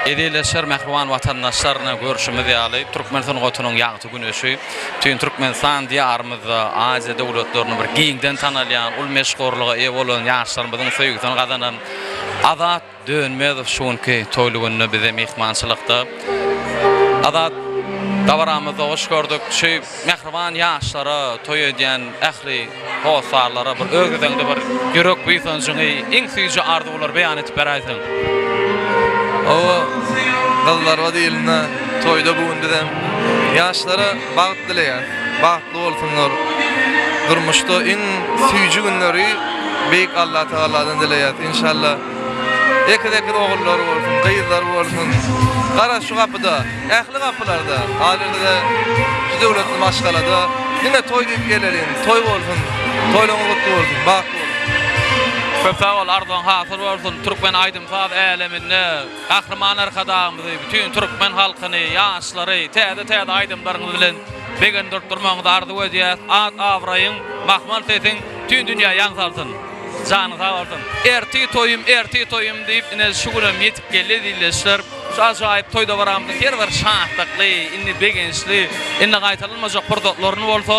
Eziz-leşer mähriban watandaşlar ine görşümiz ýaly türkmen sungatynyň ýagty güneşi bütin Türkmenistan diýarymyzda Aziýa döwletlerinde bir giňden tanalýan uly meşhurlyga eýe bolan ýaşlarymyzyň söýgüsini gazanan Azat Dönmezow şu günki toýly günde bize myhmançylykda. Azat dabaramyzda hoş gördük. Şu Mähriban ýaşlara, toý edýän ähli hossarlara bir öz gezegiňde bir ýürek buýsanjyňy, iň süýji arzuwlary beýan edip beräýseň. Hawa, gyzlarba diýilende, toýda bu gün bizem ýaşlara bagt dileýäs. Bagtly bolsunlar. Durmuşda iň süýji günleri Beýik Allatagaladan dileýäs. Enşalla, ekiz-ekiz ogullary bolsun, gyzlary bolsun. Gara, şu gapyda. Ähli gapylarda, galyňda-da şu döwletli maşgalada diňe toý diýip geleliň, toý bolsun, toýlaryňyz gutly bolsun, bagtly boluň! Köp sag bol arzuň hasyl bolsun Türkmen aýdym saz äleminde Gahryman Arkadagymyzy bütin Türkmen halkyny ýaşlary täze täze aýdymlaryňyz bilen begendirip durmagyňyzy arzuw edýäs at abraýyň mahmal sesiň bütin dünýä ýaň salsyn janyň sag bolsun. Ertir toýum ertir toýum diýip ine şu günem ýetip geldi zilleşler. Şu ajaýyp toý-dowramda her bir şatlykly, indi begençli, indi gaýtalanmajak pursatlaryny bolsa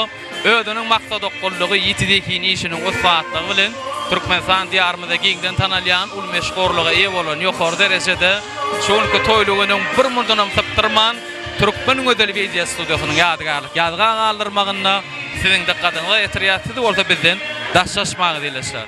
özüniň maksadaokgunlygy, ýiti zehini işiniň ussatlygy bilen Türkmenistan Diýarymyzda giňden tanalýan uly meşhurlyga eýe bolan ýokary derejede şu günki toýly günüň bir murdanam sypdyrman Türkmen gözeli wideo studiýasynyň ýadygärlik ýazga galdyrmagynda siziň dykgatyňyza getirýär siz bolsa bizden daşlaşmaň dileşýär.